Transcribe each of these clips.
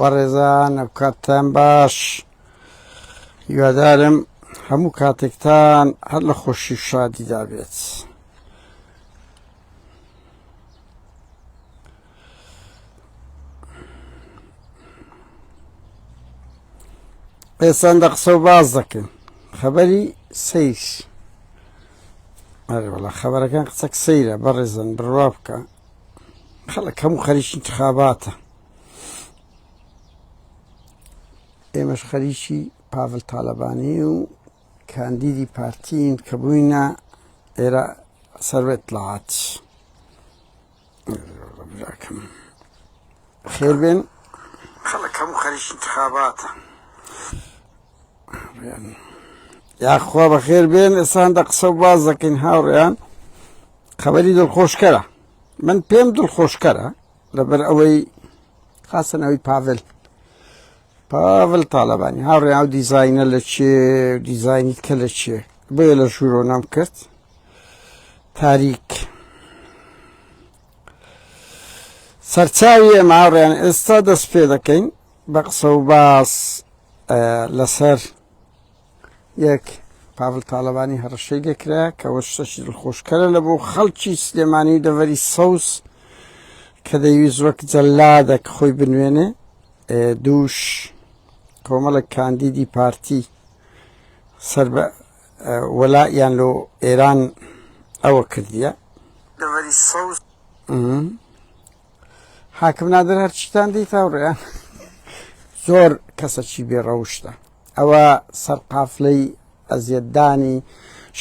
وەڕێزان ئەوکاتتان باش هیوادارم هەموو کاتێکتان هەر لە خۆشی شادیدا بێت. ئێسان دە قسە و باز دەکەن خەبەری سیر ئەرێ وڵا خەبەرەکان قسەک سەیرە بەڕێزن بڕوا بکە خەڵک هەموو خەریکی انتخاباتە ئێمەش خەریکی پاڤل تاالبانی و کاندیدی پارتین کە بووینە ئێرە سەروێت لات خێر بێن خەڵک هەموو خەریکی انتخاباتە یا خوا بەخێر بێن ئێسان دە قسە باز دەکەین هاوڕێیان خەبەری دڵخۆشکەرە من پێم دڵخۆشکەرە لەبەر ئەوەی خاستنەوەی پاڤل پاڤل تاالبانی هاوڕێ ئەو دیزینە لە چێ دیزینی کە لە چێ بۆ لە ژوورۆ نام کرد تاریک سەرچاوی ئێمە هاوڕێیان ئێستا دەست پێ دەکەین بە قسە و باس لەسەر یەک پاڤل تاڵەبانی هەڕەشەی لێکرا کە وە شتەشی دڵخۆشکەرە لە بۆ خەڵکی سلێمانی و دەڤەری سەوز کە دەیویست وەک جەلادە کە خۆی بنوێنێ دووش کۆمەڵک کاندیدی پارتی سەر بە وەلایان لۆ ئێران ئەوە کردیە دەڤەری سەوز حاکم نادر هەرچیتان دیت هاوڕێیان زۆر کەسەکی بێڕەوشتە ئەوە سەرقافلەی ئەزیەتدانی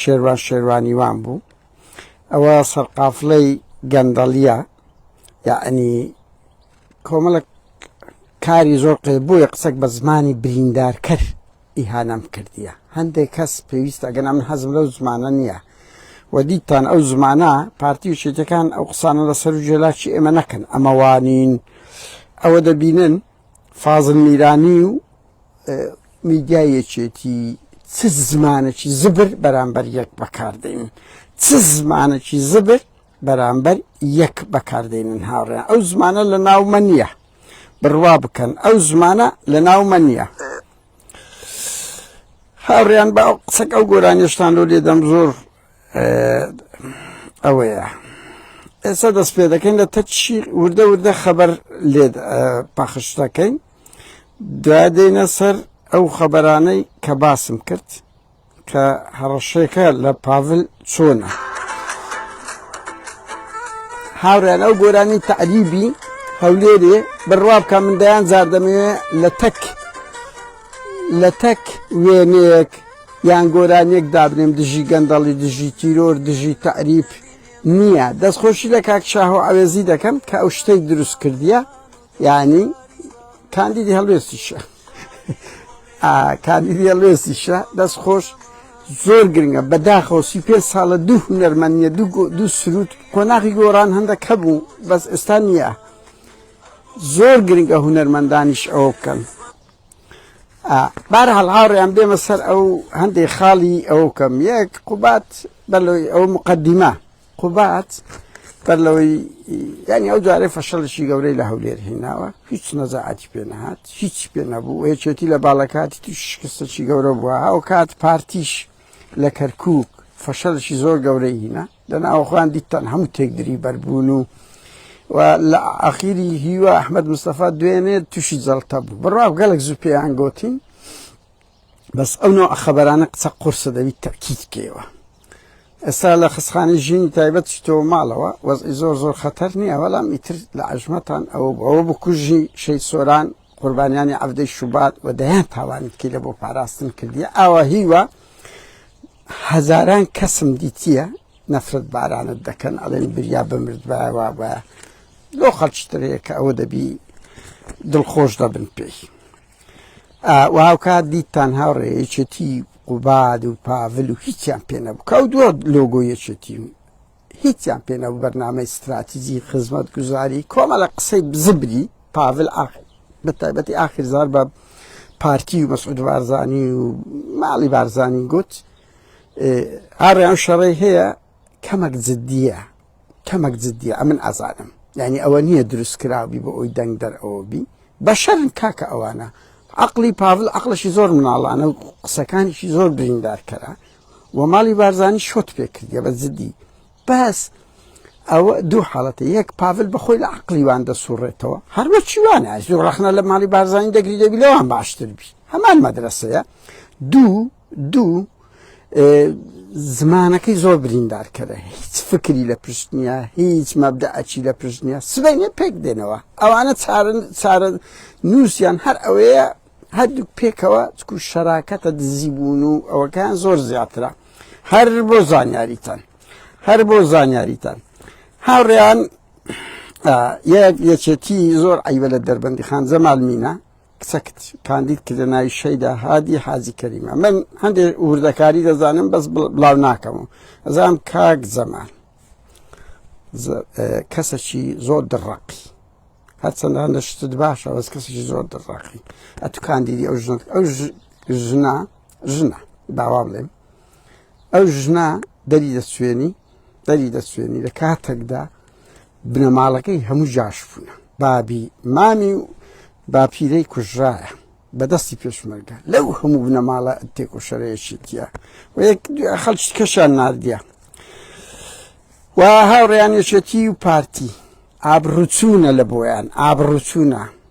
شێروان شێروانیوان بوو ئەوە سەرقافلەی گەندەڵیە یعنی کۆمەڵک کاری زۆر قێ بووە قسەک بە زمانی بریندار کرد ئیهانەم کردیە هەندێک کەس پێویستە ئەگەنا من حەزم لەو زمانە نیە وە دیتان ئەو زمانە پارتی و چێتەکان ئەو قسانە لە سەر و جێلاکی ئێمە نەکەن ئەمە وانین ئەوە دەبینن فازل میرانی و میدیای یەکێتی چ زمانەکی زبر بەرامبەر یەک بەکاردێنن چ زمانەکی زبر بەرامبەر یەک بەکاردێنن هاوڕێن ئەو زمانە لە ناومە نییە بڕوا بکەن ئەو زمانە لە ناومە نییە هاوڕیان بە ئەو قسەک ئەو گۆرانیشتان لۆ لێدەم زۆر ئەوەیە ئێستا دەست پێ دەکەین لە تەچی وردە وردە خەبەر لێ پەخش دەکەین دوای دێنە سەر ئەو خەبەرانەی کە باسم کرد کە هەڕەشەکە لە پاڤل چۆنە؟ هاوڕێیان ئەو گۆرانی تەعریبی هەولێرێ بڕوا بکە من دەیان جار دەمەوێ لە تەک لە تەک وێنەیەک یان گۆرانیەک دابنێم دژی گەندەڵی دژی تیرۆر دژی تەعریف نییە دەستخۆشی لە کاک شاهۆ عەوێزی دەکەم کە ئەو شتەی دروست کردیە یانی کاندیدی هەڵوێستیشە کاندیدی هەڵوێستیشە دەست خۆش زۆر گرنگە بەداخەوە سی پێ ساڵە دوو هونەرمەنیە دوو سرود قۆناغی گۆڕان هەندە کە بوو بەس ئێستا نییە زۆر گرنگە هونەرمەندانیش ئەوە بکەن بار هەڵهاڕیان بێمە سەر ئەو هەندێک خاڵی ئەو کەم یەک قوبات بەلۆی ئەو مقدمە قوباد بەر لەوەی یانی ئەو جارەی فەشەڵشی گەورەی لە هەولێر هێناوە هیچ نەزەعاتی پێ نەهات هیچ پێ نەبوو یەکێتی لە باڵەکاتی توش شکستەی گەورە بووە ئەو کات پارتیش لە کەرکک فەشەلشی زۆر گەورەی هینە لە ناوخوان دیتان هەموو تێکدری بەربوون و و لە ئاخیری هیوا ئەحمد مستەفا دوێنێ تووشی جەڵتە بوو بڕاو گەلک زوو پێیان گوتین بەس ئەو نەوعە خەبەرانە قسە قورسە دەبیت تەکید بکەیەوە ئێستا لە خستخانی ژینی تایبەت چیتۆ ماڵەوە وەزئی زۆر زۆر خەتەر نییە بەڵام ئیتر لە عژمەتان ئەوە ئەوە بکوژی شەید سۆران قوربانیانی عەفدەی شوبات و دەیان تاوانت کردە بۆ پاراستن کردیە ئاوا هیوە هەزاران کەسم دیتیە نەفرەت بارانت دەکەن ئەڵێن بریا بمردبایەوە بە لۆ خەڵچترەیە کە ئەوە دەبی دڵخۆش دەبن پێی و هاوکات دیتان هاوڕێ یەکێتی قوباد و پاڤل و هیچیان پێ نەبوو کە ئەو دووە لۆگۆ یەکێتی و هیچیان پێ نەبوو بەرنامەی ستراتیزی خزمەت گوزاری کۆمەڵە قسەی بزبری پاڤل ئاخر بە تایبەتی ئاخر زار بە پارتی و مەسعود بارزانی و ماڵی بارزانی گوت هاڕیان شەڕی هەیە کەمەک جددیە کەمەک جددیە ئەمن ئازانم یعنی ئەوە نییە دروست کراوی بۆ ئەوی دەنگ دەرەوە بی بەشەرن کاکە ئەوانە عقلی پاڤل عقلشی زۆر مناڵانە و قسەکانیشی زۆر بریندارکەرە و ماڵی بارزانانی شۆت پێکردە بە جددی بەس ئەوە دوو حاڵەتی یەک پاڤل بەخۆی لە عقلیوان دەسوڕێتەوە هەروە چیوانە زۆر ڕخنە لە ماڵی بارزانانی دەگری دەبی لەوان باشتر بی هەمان مەدرسەیە دوو دوو زمانەکەی زۆر بریندارکەرە هیچ فکری لە پشت نییە هیچ مەبدەعەکی لە پشت نییە سبینێ پێک دێنەوە ئەوانە چارن چارە نووسیان هەر ئەوەیە هەردوو پێکەوە چکو شەراکەتە دزی بوون و ئەوەکان زۆر زیاترە هەر بۆ زانیاریتان هەر بۆ زانیاریتان هاوڕێیان یەک یەکێتی زۆر ئەیوە لە دەربەندی خان زەمالمینە کچەکت کاندید کردە ناوی شەیدا هادی حاجی کەریم ئەمن هەندێ وردەکاری دەزانم بەس بڵاو ناکەم و ئەزانم کاک زەمان کەسەکی زۆر دڕەقی هەرچەندە هەندە شتت باشە بەس کەسێکی زۆر دڕاقی ئەتو کاندیدی ئەو ژنت ئەو ژنا ژنە داوا بڵێم ئەو ژنا دەری دەسوێنی دەری دەسوێنی لە کاتێکدا بنەماڵەکەی هەموو جاش بوونە بابی مامی و باپیرەی کوژرایە بەدەستی پێشمەرگە لەو هەموو بنەماڵە تێکۆشەرەیەکی دیە و یەک خەڵکی کەشان نردە و هاوڕیانێشێتی و پارتی ئابڕوچوونە لە بۆیان ئابڕوچوونە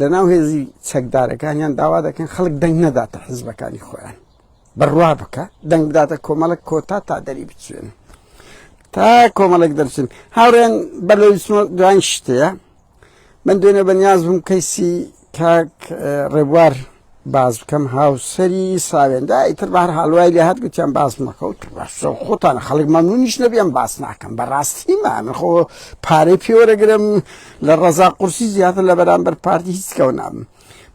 لەناو هێزی چەکدارەکانیان داوا دەکەن خەڵک دەنگ نەداتە حزبەکانی خۆیان بڕوا بکە دەنگ بداتە کۆمەڵک کۆتا تا دەری بچێن تا کۆمەڵک دەرچن هاوڕێن بەر لە دوان شتەیە من دوێنێ بەنیاز بووم کەیسی کاک ڕێبوار باس بکەم هاوسەری ساوێندا ئیتر بار هەڵوای لە هەر گوتیان باس مەکەوت خۆتان خەڵک مەمنونیش نەبیان باس ناکەم بەڕاستی من خۆ پارەی پێوەرەگرم لە ڕەزا قورسی زیاتر لە بەرامبەر پارتی هیچ کەەوە نابم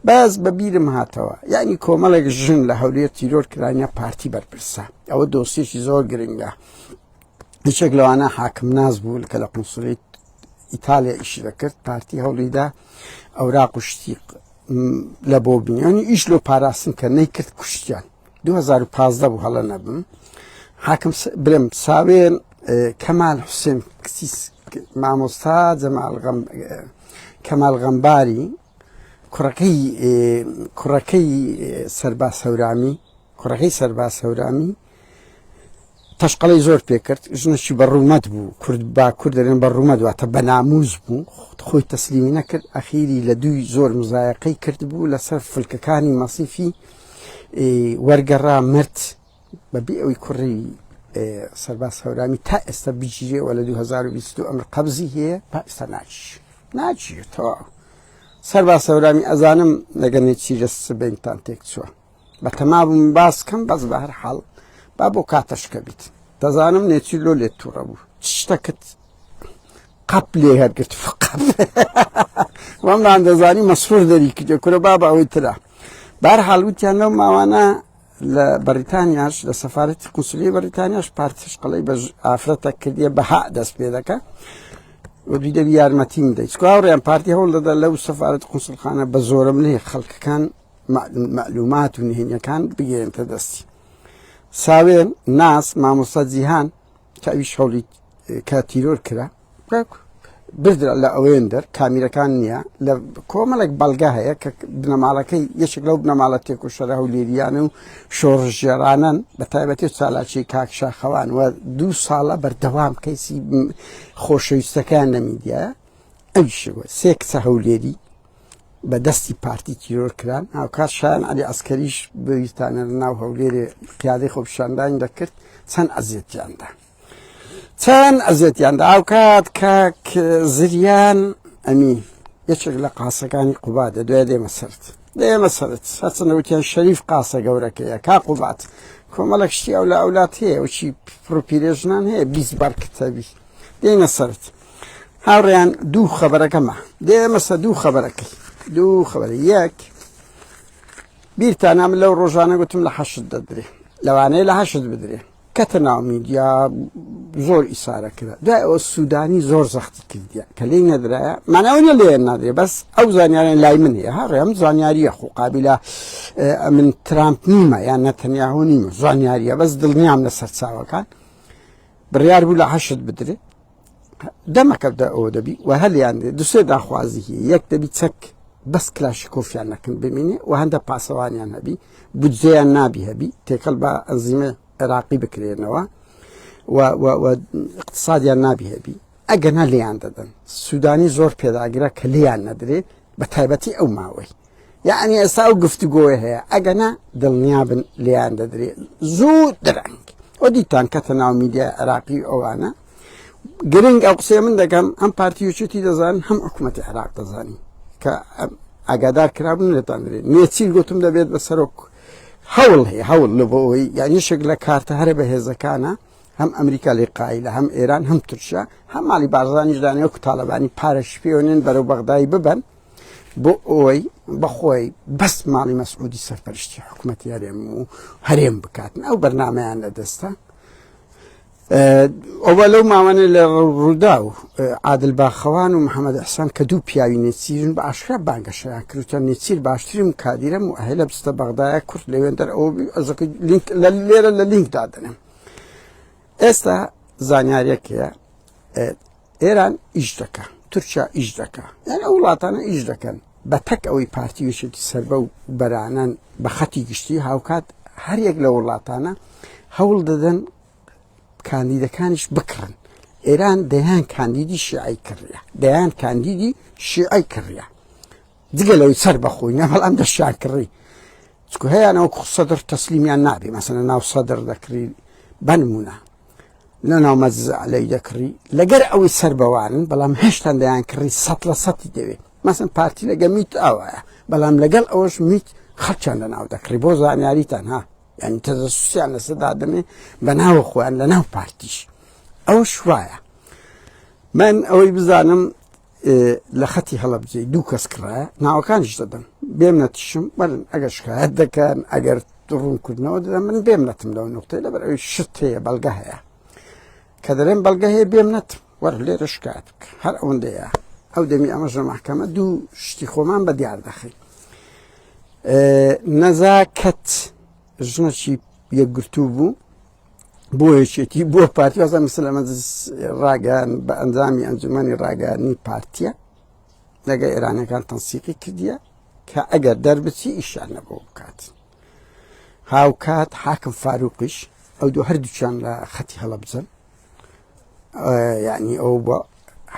بەس بە بیرم هاتەوە یعنی کۆمەڵێک ژن لە هەولێر تیرۆر کرانە پارتی بەرپرسە ئەوە دۆسیێکی زۆر گرنگە یەکێک لەوانە حاکم ناز بوو کە لە قونسلی ئیتالیا ئیشی دەکرد پارتی هەوڵیدا ئەورا قشتی لە بۆ بنیانی ئیش لۆ پاراستن کە نەیکرد کوشتیان 2015 بوو هەڵە نەبم حاکم برم ساوێن کەمال حوسێن کسیس مامۆستا جەمال کەمال غەمباری کوڕەکەی کوڕەکەی سەرباز هەورامی کوڕەکەی سەرباز هەورامی تەشقەڵی زۆر پێکرد ژنەشی بە ڕوومەت بوو کورد با کورد دەرێن بە ڕوومەت واتە بە ناموز بوو خۆی تەسلیمی نەکرد ئەخیری لە دووی زۆر مزایەقەی کرد بوو لەسەر فلکەکانی مەسیفی وەرگەڕا مرد بە بێ ئەوی کوڕی سەرباز هەورامی تا ئێستا بگیرێ وە لە 2022 ئەمر قەبزی هەیە با ئێستا ناچ ناچێتەوە سەرباز هەورامی ئەزانم لەگەنێ چی لە سبینتان تێک چووە بە تەما بووم باس کەم بەس بە هەر حاڵ با بۆ کاتەشکە بیت دەزانم نێچی لۆ لێت تووڕە بوو شتەکەت قەپ لێ هەرگرت فقەت وەمران دەزانی مەسرور دەری کردێ کورە بابا ئەوەی تررا بار حاڵوتیان لەو ماوانە لە بەریتانیاش لە سەفارەتی قونسلی بەریتانیاش پارتیش قەڵی بە ئافرەتە کردیە بەها دەست پێ دەکە وەدوی دەبی یارمەتیم دەیت چکاوڕیان پارتی هەوڵ دەدا لەو سەفاەت قوسلخانە بە زۆرە منێ خەڵکەکان معلومات و نهێنیەکان بگەێنتە دەستی ساوێن ناس مامۆستا جیهان کە ئەوی شەڵیت کە تیرۆر کرا بردرا لە ئەوێن دەر کامیرەکان نییە لە کۆمەڵێک بەڵگە هەیە کە بنەماڵەکەی یەکێک لەو بنەماڵە تێک و شەرە و لێریانە و شۆڕژێرانن بە تایبەتی و سالاچی کاکشاخەوان و دوو ساڵە بەردەوام کەیسی خۆشەویستەکان لە میدیە ئەوشەوە سێ کچە هەولێری بە دەستی پارتی تیرۆر کران هاوکات شان علی ئەسکەریش بەویستانە ناو هەولێرێ قیادەی خۆپشاندان دەکرد چەند ئەزیێتیاندا چەند ئەزێتیان دا ئاوکات کاک زریان ئەمین یەکێک لە قاسەکانی قوبا دە دوای دێمە سرد دێمە سرد هەچەنەوتیان شەریف قاسە گەورەکەیە کا قوبات کۆمەڵک شتی ئەو لە ئەولات هەیە وچی پرۆپیرێژنان هەیە بیست بار کتەبی دێنە سرد هاوڕێیان دوو خەبەرەکەمە دێمەسە دوو خەبەرەکەی دوو خەبەر یەک بیرتانام لەو ڕۆژانە گوتم لە حەشت دەدرێ لەوانەیە لە حەشت بدرێ کەتە ناو میدیا زۆر ئیسارە کرا دوای ئەوە سوودانی زۆر زەختی کردیە کە لی نەدرایە ماناونە لێ نادرێ بەس ئەو زانیاریان لای من هەیە هەڕێ ئەم زانیاریە خۆ قابلە من ترامپ نیمە یان نەتەنیاهۆ نیمە زانیاریە بەس دڵنیام لە سەرچاوەکان بڕیار بوو لە حەشت بدرێت دەمەکەدا ئەوە دەبی و هەلیان دوسێ داخوازی هی یەک دەبی چەک بەس کلاشی کۆفیان نەکن بمینێ و هەندە پاسەوانیان هەبی بجێیان نابی هەبی تێکەڵ بە ئەنزیمە عێراقی بکرێنەوە اقتصادیان نابی هەبی ئەگەنا لیان دەدەن سوودانی زۆر پێداگرە کە لیان نەدرێت بە تایبەتی ئەو ماوەی یەعنی ئێستا ئەو گفتوگۆیە هەیە ئەگەنا دڵنیابن لێیان دەدرێت زوو درەنگ ئەو دیتان کەتە ناو میدیا عراقی ئەوانە گرنگ ئەو قسەیە من دەکەم ئەم پارتی وچێتی دەزان هەم حکوومەتی عراق دەزانی کە ئاگادار کرابن لێتان درێت نێچیل گوتم دەبێت بە سەرۆک هەوڵ هەیە هەوڵ لە بۆەوەی یانیشێک لە کارتە هەرە بە هێزەکانە هەم ئەمریکا لێ قایلە هەم ئێران هەم ترشە هەم ماڵی بارزانانیش دانێ و تاالبانی پارەش پێوەێن بەرەو بەغدای ببن بۆ ئەوەی بەخۆی بەس ماڵی مەسعودی سەرپەرشتی حکوومەتی هەرێم و هەرێم بکاتن ئەو بەرنمەیان لە دەستە ئەوە لەو ماوانە لە ڕوودا و عادل باخەوان و محەممەد حسان کە دوو پیاوی نێچیرن بە ئاشکرا بانگەشەیان کردوتە نێچیر باشترین کادیرم و هەیە لە بستە بەغدایە کورت لەوێن دەر ئەو لە لێرە لە لینک دادنم ئێستا زانیارەکەیە ئێران ئیش دەکا تورکیا ئیش دەکا یان ئەو وڵاتانە ئیش دەکەن بە تەک ئەوەی پارتی وشێکی سربە و بەرانەن بە خەتی گشتی هاوکات هەریەک لە وڵاتانە هەوڵ دەدەن کاندیدەکانیش بکڕن ئێران دەیان کاندیدی شیعی کڕە دەیان کاندیدی شیعی کڕە جگە لەوەی سەر بەخۆی نە هەڵام دەشیان کڕی چکو هەیەیانەوە سەدر تەسلیمیان نابێ مەسەنە ناو سەدر دەکری بەنمونە لە ناو مەزعلەی دەکڕی لەگەر ئەوەی سەر بەوانن بەڵام هێشتان دەیان کڕی سە لە سەتی دەوێت مەسن پارتی لەگە میت ئاوایە بەڵام لەگەڵ ئەوەش میت خەچان لە ناو دەکڕی بۆ زانیاریتان ها یعنی تەزسوسیان لەسەدا دەمێ بە ناوە خۆیان لە ناو پارتیش ئەو شوایە من ئەوەی بزانم لە خەتی هەڵەبجەی دوو کەس کڕایە ناوەکانیش دەدەم بێم نەتیشم بەرن ئەگەر شکایەت دەکەن ئەگەر ڕوونکردنەوە دەدەم من بێم نەتم لەو نقطەی لەبەر ئەوی شت هەیە بەڵگە هەیە کە دەرێن بەڵگە هەیە بێم نەتم وەر لێرە شکایەت بکە هەر ئەوەندەیە ئەو دەمی ئەمەش لە محکەمە دوو شتی خۆمان بە دیار دەخین نەزاکەت ژنەچی یەکگرتوو بوو بۆ یەکێتی بۆ پارتی وازە مسلەمە ڕاگەیان بە ئەنجامی ئەنجومی ڕاگەیانی پارتە لەگە ئێرانەکان تەنسیقی کردیە کە ئەگەر دەربچی ئیشان نەبوو بکات هاوکات حاکم فاروقیش ئەو دوو هەردووچان لە خەتی هەڵەبجەن یعنی ئەو بە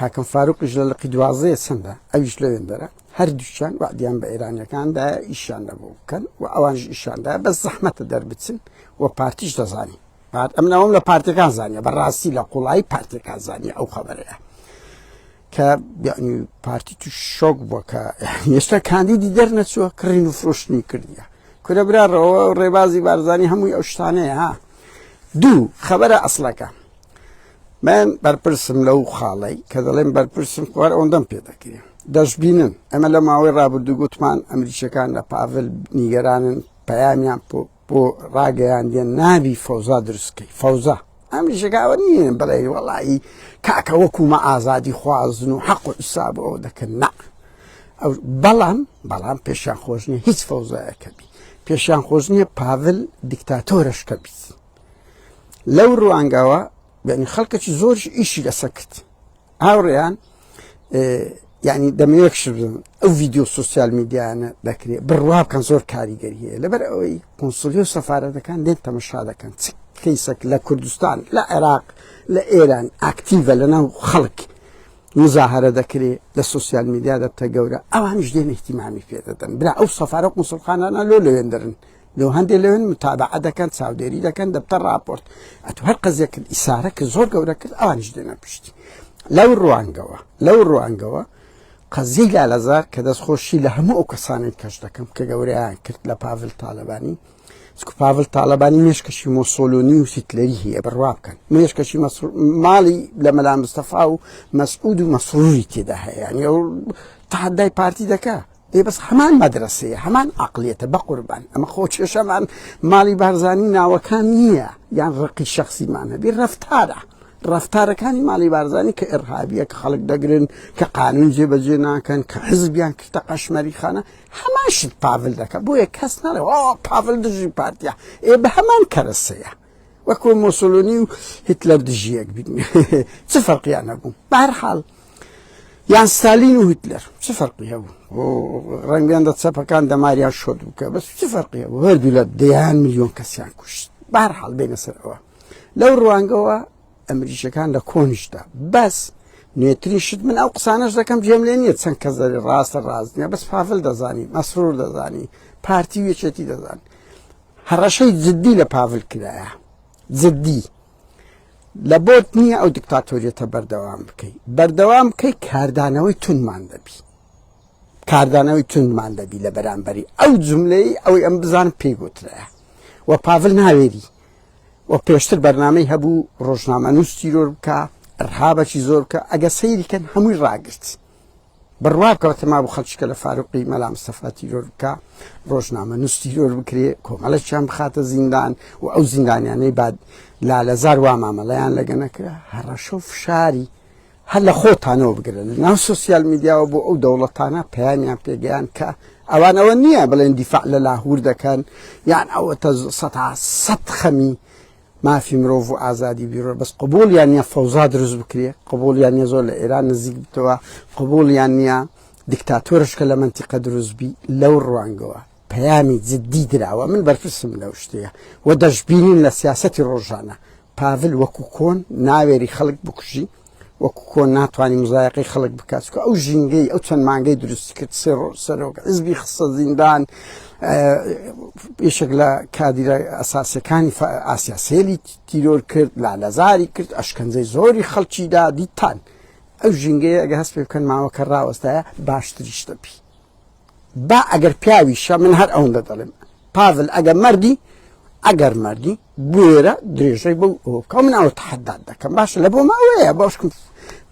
حاکم فاروقیش لە لقی دوازەیە چەندە ئەویش لەوێن دەرە هەردووچان وعدیان بە ئێرانەکاندا ئیشان نەبوو بکەن و ئەوانش ئیشاندا بە زەحمەتە دەربچن و پارتیش دەزانین پارت ئەم ناوم لە پارتەکان زانیە بەڕاستی لە قوڵایی پارتەکان زانانی ئەو خەبەرەیە کە یعنی پارتی تو شۆک بووە کە ئێستا کاندیدی دەرنەچووە کڕین و فرۆشتنی کردیە کورە براڕەوە ڕێبازی بارزانانی هەمووی ئەو شتانەیە ها دوو خەبەرە ئەسلەکە من بەرپرسم لەو خاڵی کە دەڵێن بەرپرسم خوار ئەوەندەم پێ دەکرێن دەشببینن ئەمە لە ماوەی ڕابردوو گوتمان ئەمریکیەکان لە پاڤل نیگەرانن پەیامیان بۆ ڕاگەیاندیان نابی فەوزا دروست کەی فەوزا ئەمیشەکە ئەوە نیە بڵێ وەڵایی کاکە وەکومە ئازادی خوازن و حەق و حساب ئەو دەکەن نا ئەو بەڵام بەڵام پێشیان خۆش نیە هیچ فەوزایەکە بی پێشیان خۆش نیە پاڤل دیکتاتۆرشکە بیت لەو ڕوانگەوە بەنی خەڵکەکی زۆرش ئیشی لەسەکرد هاوڕێیان یعنی دەمەوێت شبم ئەو ڤیددیو سوسیال میدیانە دەکرێت بڕوا بکەن زۆر کاریگەری هەیە لەبەر ئەوەی قنسلی و سەفاەتەکان لێن تەمەشا دەکەن چ کەیسەک لە کوردستان لە عێراق لە ئێران ئاکتیڤە لە ناو خەڵک مزاهرە دەکرێت لە سوسیال میدیا دەبتە گەورە ئەوانش دێن احتیمامی پێ دەدەن برا ئەو سەفاە قوسڵخانانە لۆ لەوێندرن لو هەندێک لەوێن متابعە دەکەن چاودێری دەکەن دەبتە راپۆرت ئەتو هەر قەزێک ئیسارە کرد زۆر گەورە کرد ئەوانیش دێنە پشتی لەو ڕوانگەوە لەو ڕوانگەوە قەزی لالەزار کە دەست خۆشی لە هەموو ئەو کەسانێک کەش دەکەم کە گەوریان کرد لە پاڤل تاالبانی سکو پاڤل تاالبانی مێشکەشی مۆسۆلۆنی و سیتلەری هەیە بڕوا بکەن مێشکەشی ماڵی لە مەلا مستەفا و مەسعود و مەسروری تێدا هەیە یعنی ئەو تحدای پارتی دەکە ئێ بەس هەمان مەدرەسەیە هەمان عقلیەتە بەقوربان ئەمە خۆ کێشەمان ماڵی بارزانانی ناوەکان نییە یان ڕقی شخصیمان هەبی ڕفتارە ڕفتارەکانی ماڵی بارزانانی کە ئێرهابیە کە خەڵک دەگرن کە قانون جێبەجێ ناکەن کە حزبیان کردە قەشمەری خانە هەماشت پاول دەکە بۆیە کەس نەڵێ پاول دژی پارتیا ئێ بە هەمان کەرەسەیە وەکو مۆسولۆنی و هیتلەر دژیەک بین چ فەرقیان نەبوو بارحاڵ یان ستالین و هیتلەر چ فەرقی هەبوو ڕەنگیان دە چەپەکان دەماریان شۆت بکە بەس چ فەرقی هەبوو هەردوو لە دەیان میلیۆن کەسیان کوشت بار حاڵ بێنە سەرەوە لەو ڕوانگەوە ئەمریکیەکان لە کۆنیشدا بەس نوێترین شت من ئەو قسانش دەکەم جێم لێ نییە چەند کەس دەێ ڕاستە ڕاست نیە بەس پافل دەزانی مەسرور دەزانی پارتی وێچێتی دەزان هەڕەشەی جددی لە پاڤل کرایە جددی لە بۆت نییە ئەو دیکتاتۆریەتە بەردەوام بکەی بەردەوام بکەی کاردانەوەی تونمان دەبی کاردانەوەی تونمان دەبی لە بەرامبەری ئەو جملەی ئەوەی ئەم بزان پێی گوترە و پاڤل ناوێری و پێشتر بەرنمەی هەبوو ڕۆژنامە نووس تیرۆر بکە ڕهابەکی زۆر بکە ئەگە سەیریکەن هەمووی ڕاگرت بڕوا کەوتە مابوو خەڵکیکە لە فاروقی مەلا مستەفا تیرۆر بکا ڕۆژنامە نووس تیرۆر بکرێ کۆمەڵەکیان بخاتە زیندان و ئەو زیندانیانەی بعد لالەزار وا مامەڵەیان لەگە نەکرا هەڕەشە و فشاری هەر لە خۆتانەوە بگرن ناو سوسیال میدیاوە بۆ ئەو دەوڵەتانە پەیامیان پێگەیان کە ئەوان ئەوە نییە بڵێن دیفاع لە لاهور دەکەن یان ئەوە تە سە سەد خەمی مافی مرۆڤ و ئازادی بیرۆ بەس قبول یان نیە فەوزا دروست بکرێ قبول یان نیە زۆر لە ئێران نزیک بتەوە قبول یان نیە دیکتاتۆرشکە لە منتیقە دروستبی لەو ڕوانگەوە پەیامی جددی دراوە من بەرپرسم لەو شتەیە و دەشببینین لە سیاستی ڕۆژانە پاڤل وەکو کۆن ناوێری خەڵک بکوژی وەکو کۆن ناتوانی مزایەقەی خەڵک بکات چکە ئەو ژینگەی ئەو چەند مانگەی دروستی کرد سێ ڕۆژ سەرۆک حزبی خستە زیندان یشێک لە کادیرە ئەساسەکانی ئاسیا سێلی تیرۆر کرد لا لەزاری کرد ئەشکەنجەی زۆری خەڵکی دا دیتان ئەو ژینگەیە ئەگە هەست پێ بکەن ماوەکە ڕاوەستایە باشتریشتە بی با ئەگەر پیاویشە من هەر ئەوەندە دەڵێم پاڤل ئەگەر مەردی ئەگەر مەردی بوێرە درێژەی بەو ئەوکە من ئەوە تحداد دەکەم باشە لە بۆ ماوەیە باشکم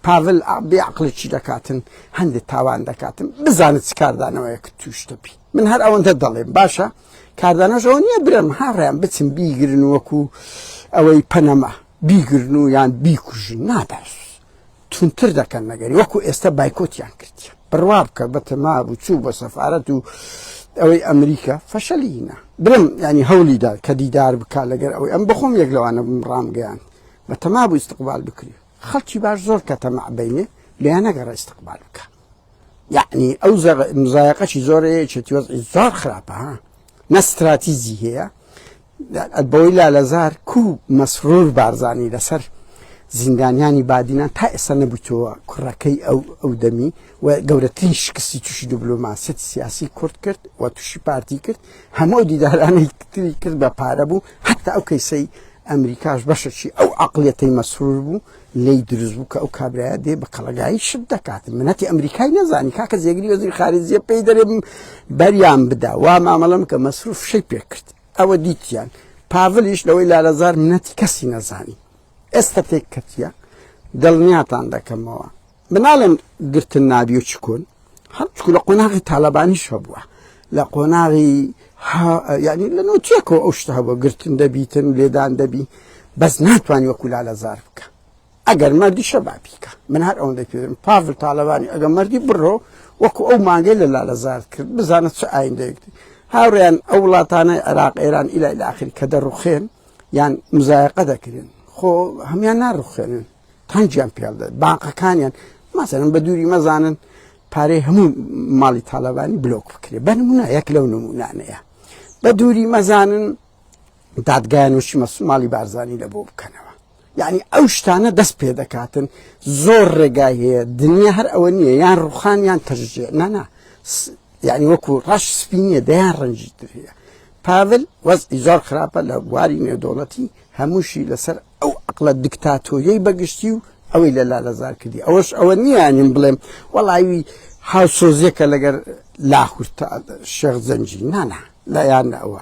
پاڤل بێ عقلی چی دەکاتن هەندێک تاوان دەکاتن بزانت چ کاردانەوەیە کە توشتەبی من هەر ئەوەندە دەڵێم باشە کاردانەشەوە نییە برم هاڕیان بچم بیگرن وەکو ئەوەی پەنەما بیگرن و یان بیکوژن ناباش توندتر دەکەن نەگەری وەکو ئێستا بایکۆتیان کردیە بڕوا بکە بە تەما بچوو بە سەفاەت و ئەوەی ئەمریکا فەشەلینە برم ینی هەولیدا کە دیدار بکە لەگەر ئەوەی ئەم بخۆم یەک لەوانە ڕامگەیان بە تەما بوو استقبال بکری خەڵکی باش زۆر کە تەمە بینێ لیان نەگەڕە استقبال بکە یعنی ئەو مزایقەی زۆرەیەچێتی وەزی زۆر خراپە ها نە استراتیزی هەیە بەوەی لالەزار کو مەسرور بارزانی لەسەر زیندانیانی بادینان تا ئێستا نەبوویتەوە کوڕەکەی ئەو ئەو دەمی و گەورەترین شکستی تووشی دیبلۆماسیەتی سیاسی کورد کرد و تووشی پارتی کرد هەموو دیدارانەی تری کرد بە پارە بوو حتا ئەو کەیسەی ئەمریکاش بەشەکی ئەو عقلەتەی مەسرور بوو لی دروست بوو کە ئەو کابراە دێ بە کەڵگایی شت دەکات منەتی ئەمریکای نەزانی کاکە جێگری وەزیر خارجیە پێی دەرێ بەریان بدا وا مامەڵم کە مەسرور فشەی پێ کرد ئەوە دیتیان پاڤلیش لەوەی لالەزار منەتی کەسی نەزانی ئێستا تێک کەتیە دڵنیاتان دەکەمەوە مناڵێن گرتن نابی و چکون هەرچکو لە قۆناغی تالبانی شە بووە لە قۆناغی یعنی لە نوتیەکەوە ئەو شتە بۆ گرتن دەبیتن لێدان دەبی بەس ناتوانانی وەکولا لە زار بکە ئەگەر مەردیشە با بیکا. من هەر ئەوەندەی پێ دەڵێم پاڤل تاڵەبانی ئەگەر مەردی بڕۆ وەکوو ئەو مانگەی لە لالەزارت کرد بزانە چ ئایندەیەک دێ. هاوڕێیان ئەو وڵاتانەی عێراق، ئێران ئیلا ئیلا ئاخری کە دەڕووخێن یان مزایەقە دەکرێن خۆ هەموان ناڕووخێنن تەنگیان پێ دێت بانقەکانیان مەسەلەن بە دووری مەزانن پارەی هەموو ماڵی تاالبانی بلۆک بکرێ بە نمونە یەک لەو نمونانەیە بە دووری مەزانن دادگایان وشی مەسوماڵی بارزانانی لە بۆ بکەنەوە یانی ئەو شتانە دەست پێ دەکاتن زۆر ڕێگای هەیە دنیا هەر ئەوە نییە یان ڕوخان یان تەژێ نانا یعنی وەکو ڕەش سپینە دەیان ڕەنجی ترەیە پاڤل وەزی زۆر خراپە لە بواری نێودۆڵەتی هەمووشی لەسەر ئەو عقلە دیکتاتۆریەی بەگشتی و ئەوەی لە لالەزار کردی ئەوەش ئەوە نییانیم بڵێم وەڵاوی هاوسۆزیەکە لەگەر لاهورتا شێخ زەنجی نانا لایان ئەوە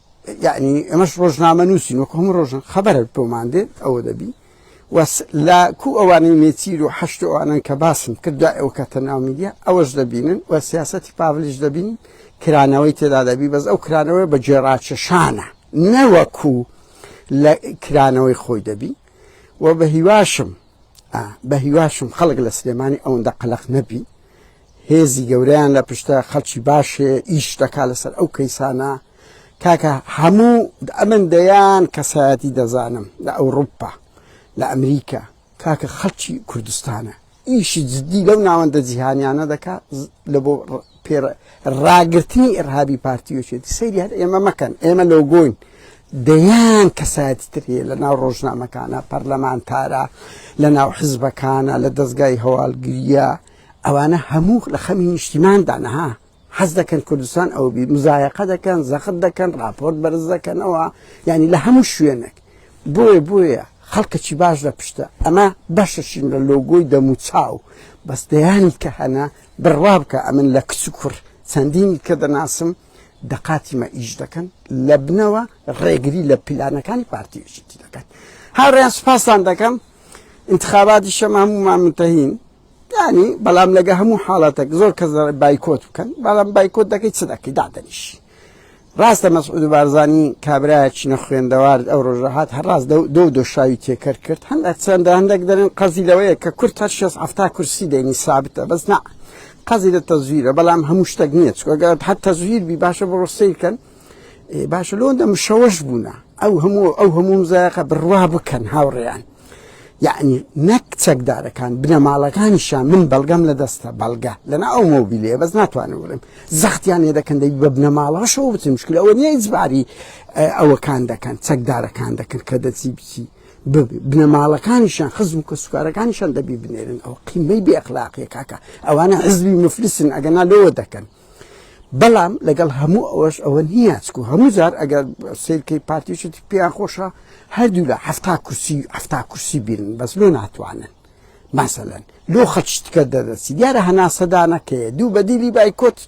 یەعنی ئەمەش ڕۆژنامە نووسین وەکو هەموو ڕۆژن خەبەرت بۆمان دێت ئەوە دەبی وەس لە کو ئەوانەی نێچیر و حەشت ئەوانن کە باسم کرد دوای ئەو کەتە ناو میدیا ئەوەش دەبینن و سیاستی پاڤلیش دەبین کرانەوەی تێدا دەبی بەس ئەو کرانەوەی بە جێڕاکێشانە نەوەکو لە کرانەوەی خۆی دەبی و بە هیواشم بەهیواشم خەڵک لە سلێمانی ئەوەندە قەلەق نەبی هێزی گەورەیان لە پشتە خەڵکی باشێ ئیش دەکا لەسەر ئەو کەیسانە کاکە هەموو ئەمن دەیان کەسایەتی دەزانم لە ئەوروپا لە ئەمریکا کاکە خەڵکی کوردستانە ئیشی جددی لەو ناوەندە جیهانیانە دەکات لە بۆ پێ ڕاگرتنی ئیرهابی پارتی یەکێتی سەیری هەر ئێمە مەکەن ئێمە لۆگۆین دەیان کەسایەتی تر هەیە لە ناو ڕۆژنامەکانە پەرلەمانتارە لە ناو حزبەکانە لە دەستگای هەواڵگریە ئەوانە هەموو لە خەمی نیشتیماندا نەها حەز دەکەن کوردستان ئەو بی مزایەقە دەکەن زەخت دەکەن راپۆرت بەرز دەکەنەوە ینی لە هەموو شوێنێک بۆیە بۆیە خەڵکەکی باش لە پشتە ئەمە بەشەشین لە لۆگۆی دەموچاو بەس دەیانی کە هەنە بڕوا بکە ئەمن لە کچ و کوڕ چەندینی کە دەناسم دەقاتی مە ئیش دەکەن لە بنەوە ڕێگری لە پیلانەکانی پارتی یەکێتی دەکەن هاوڕێیان سپاستان دەکەم انتخاباتی شەمە هەموو مامنتەهین یانی بەڵام لەگە هەموو حاڵەتێک زۆر کەس بایکۆت بکەن بەڵام بایکۆت دەکەی چ دەکەی دادەنیش ڕاستە مەسعود بارزانانی کابراایکی نەخوێندەوار ئەو ڕۆژەهات هەڕاست دو دۆشاوی تێکەر کرد هەندێک چەندە هەندێک دەرن قەزی لەوەیە کە کورت هەر شێ هەفتا کورسی دێنی سابتە بەس نا قەزی لە تەزویرە بەڵام هەموو شتێک نییە چگەت هەر تەزویر بی باشە بۆ ڕۆسیکەن باشە لۆندە مشەوەش بوونە ئەو هەموو ئەو هەموو زایقە بڕوا بکەن هاوڕێیان یەعنی نەک چەکدارەکان بنەماڵەکانیشیان من بەڵگەم لە دەستە بەڵگە لەنا ئەو مۆبیلێ بەس ناتوانم بڵێم زەختیان لێ دەکەن دەبی بە بنەماڵەشەوە بچن مشکل ئەوە نیە ئیجباری ئەوەکان دەکەن چەکدارەکان دەکەن کە دەچی بچی بنەماڵەکانیشان خزم و کەسوکارەکانیشان دەبی بنێرن ئەو قیمەی بێخلاقیە کاکە ئەوانە حزبی مفلسن ئەگەنا لەوە دەکەن بەڵام لەگەڵ هەموو ئەوەش ئەوە نییە چکو هەموو جار ئەگەر سیرکەی پارتیشتی پێیان خۆشە هەردوو لە هەفتا کورسی هەفتا کورسی بینن بەس لۆ ناتوانن مەسەلەن لۆ خەچتکە دەدەچی دیارە هەناسەدانەکەی دوو بەدیلی بایکۆت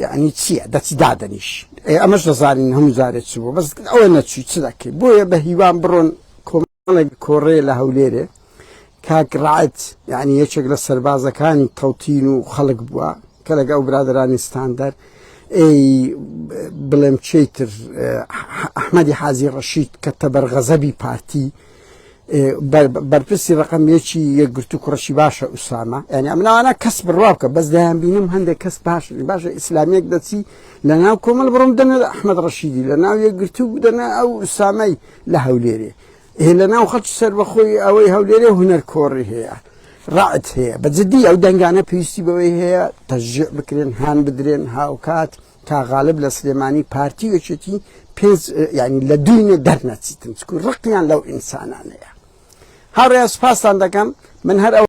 یعنی چییە دەچی دادەنیش ئەمەش دەزانین هەموو جارێک چ بوو بەس ئەوە نەچوی چ دەکەی بۆیە بە هیوام بڕۆن کۆمەڵێک کۆڕێ لە هەولێرێ کاک ڕعەت یعنی یەکێک لە سەربازەکانی تەوتین و خەڵک بووە کە لەگە ئەو برادرانی ستاندەر ئەی بڵێم چیتر ئەحمەدی حازی ڕەشید کە تەبەر غەزەبی پارتی بەرپرسی ڕقم یەکی یەکگرتو کوڕشی باشە ئوسامە یعنی ئەمناوانە کەس بڕوا بکە بەس دایان بینم هەندێک کەس باش باشە ئیسلامیەک دەچی لە ناو کۆمەل بڕم دەنە ئەحمد ڕەشیدی لە ناو یەکگرتو بدەنە ئەو ئوسامەی لە هەولێرێ ئێ لە ناو خەڵکی سەربەخۆی ئەوەی هەولێرێ هونەر کۆڕی هەیە ڕعت هەیە بە جدی ئەو دەنگانە پێویستی بەوەی هەیە تەژێ بکرێن هان بدرێن هاوکات تا غالب لە سلێمانی پارتی وەچێتی پێنج ینی لە دوینێ دەرنەچیتن چکو ڕقیان لەو ئینسانانەیە هاڕێ سپاسان دەکەم من هەر ئەو